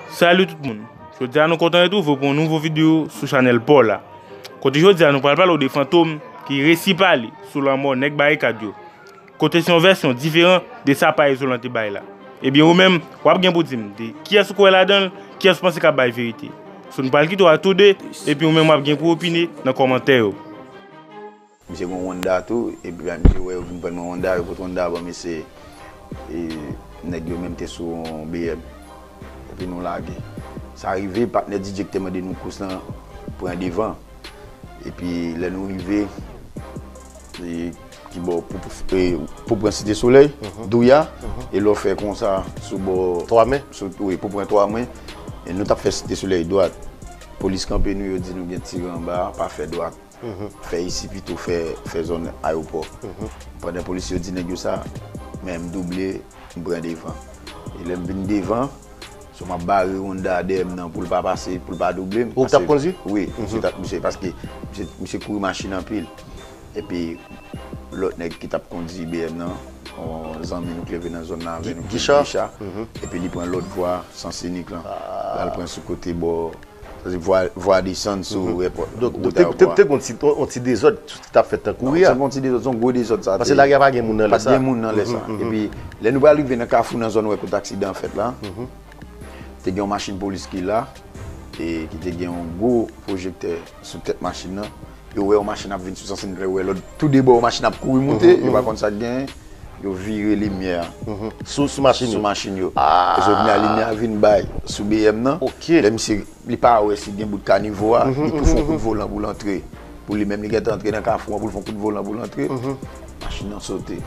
Salut tout moun, jodi a nou kontan retrouve pou yon nouvo video sou chanel paw la Kote jodi a nou pral pale ou de fantom ki resi pale sou lanmò nèg barikad yo Kote se yon vèsyon diferan de sa pa izolan te bay la Ebyen ou menm wap gen pou dim de kiyès ou kwè ladanl kiyès ou panse kap bay verite So nou pral kite w a tou 2 epi ou menm wap gen pou opine nan kòmantè yo. Misye gon Honda tou epi bay misye wè yo vin prann mwen Honda yo pot Honda banm ese nèg yo menm te sou yon BM epi nou lage sa rive patnè DJ ki te mande nou kous lan pran devan epi lè nou rive ki bò pou pran site solèy douya e lò fè konsa sou bò 3 men wi pou pran 3 men nou tap fè site solèy dwat polis kanpe nou yo di nou gen tir anba pa fè dwat. Fè isi pito fè zòn ayopò. Pandan polisye yo di nèg yo sa, men m double, m pran devan. E lè m vin devan, so m ap bare Honda a dèyè m nan pou l pa pase, pou l pa double m. Ou k t ap kondwi? Wi, misye t ap misye paske misye kouri machin anpil. Epi lòt nèg ki t ap kondwi BM nan, yon zanmi nou k leve nan zòn nan avè nou ki rele Gicha, epi li pran lòt vwa Sans Unique lan, l al pran sou kote bò. Sa se vwa desann sou repòt la. Ou ta wè pwa. Te gon yon ti dezòd ki tap fèt nan kouri a. Non, se pa yon ti dezòd, se yon gwo dezòd sa te. Pase lari a pa gen moun nan lè sa. Pa gen moun nan lè sa. E pi, lè nou pral rive nan kafou nan zòn wè kote aksidan an fèt la, te gen yon machin polis ki la, e ki te gen yon gwo pwojektè sou tèt machin nan. Yo wè yon machin ap vin sou Sansinklè, yo wè lòt tou de bò yon machin ap kouri moute, yo pa konn sa k gen. Yo vire limyè an. Sou machin yo? Sou machin yo. E jodi a limyè a vin bay sou BM nan. Ok. Lè misye, li pa wè si gen bout kanivo a, li tou fon kout volan pou l antre. Pou li menm li gentan antre nan kafou an pou l fon kout volan pou l antre. Machin nan sote.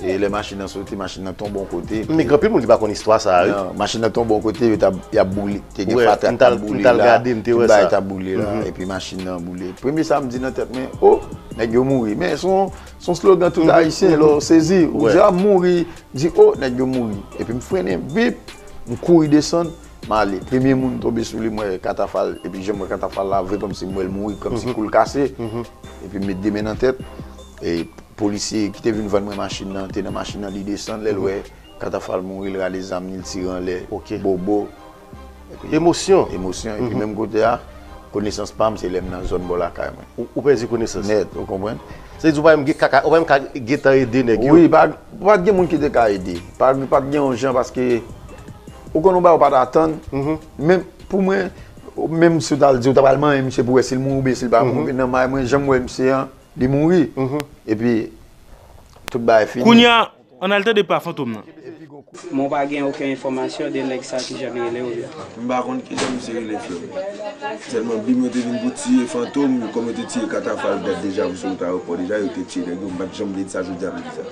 E lè machin nan sote, machin nan tonbe yon kote. Men gen anpil moun ki pa konn istwa sa a wi. Nan, machin nan tonbe yon kote, yo t ap, y ap boule. Te gen fatra k t ap boule la. Mwen t al gade, m te wè sa. Tout bagay t ap boule la. Epi machin nan boule. Premye sa m di nan tèt mwen, o! Nèg yo mouri. Men son. S on slogan tout Ayisyen lè w sezi. Ou di ap mouri, m di o nèg yo mouri. Epi m frennen, bip! M kouri desann, m ale. Premye moun m tonbe sou li m wè katafal. Epi jan m wè katafal la vre kòmsi m wè l mouri, kòmsi kou l kase. Epi m met de men nan tèt. E polisye ki te vin vann mwen machin nan te nan machin nan li desann. Lè l wè katafal mouri l rale zam li l tire anlè. Bobo! Epi emosyon. Emosyon. Epi menm kote a, konesans pa m se lè m nan zòn bò lakay mwen. Ou pèdi konesans. Nèt, ou konprann? Sa vle di ou pa menm gen ka, ou pa menm ka gen tan ede nèg yo? Wi, pa t gen moun ki te ka ede. Pa t gen yon jan paske ou konn yon bagay ou pa t atann. Menm pou mwen, menm si w t al di ou ta pral manyen misye pou wè si l mouri oubyen si l pa mouri, nan may mwen jan m wè misye an, li mouri. Epi tout bagay fini. Kounye a, Ann al tande pa fantom nan. Mwen pa gen oken enfòmasyon de nèg sa ki jan li rele ou yo. M pa konn kijan misye rele frèm. Sèlman bim yo te vin pou tiye fantom kòm yo te tiye katafal dat deja pou sou wout ayewopò deja yo te tiye nèg yo m pat janm vle di sa jodia m di sa.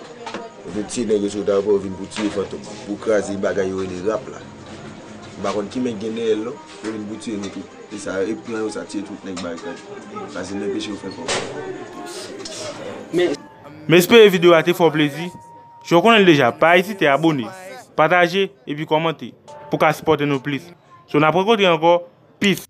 Yo te tiye nèg yo sou wout ayewopò yo vin pou tiye fantom pou kraze bagay yo rele rap la m pa konn ki men ki gen dèyèl non yo vin pou tiye nou tout e sa e plan yo sa tiye tout nèg barikad la se nan peche yo fè fò. M espere video a te fè w plezi. Jan w konnen l deja, pa ezite abone, pataje epi kòmante pou w ka sipòte nou plis. So n ap rankontre ankò, peace!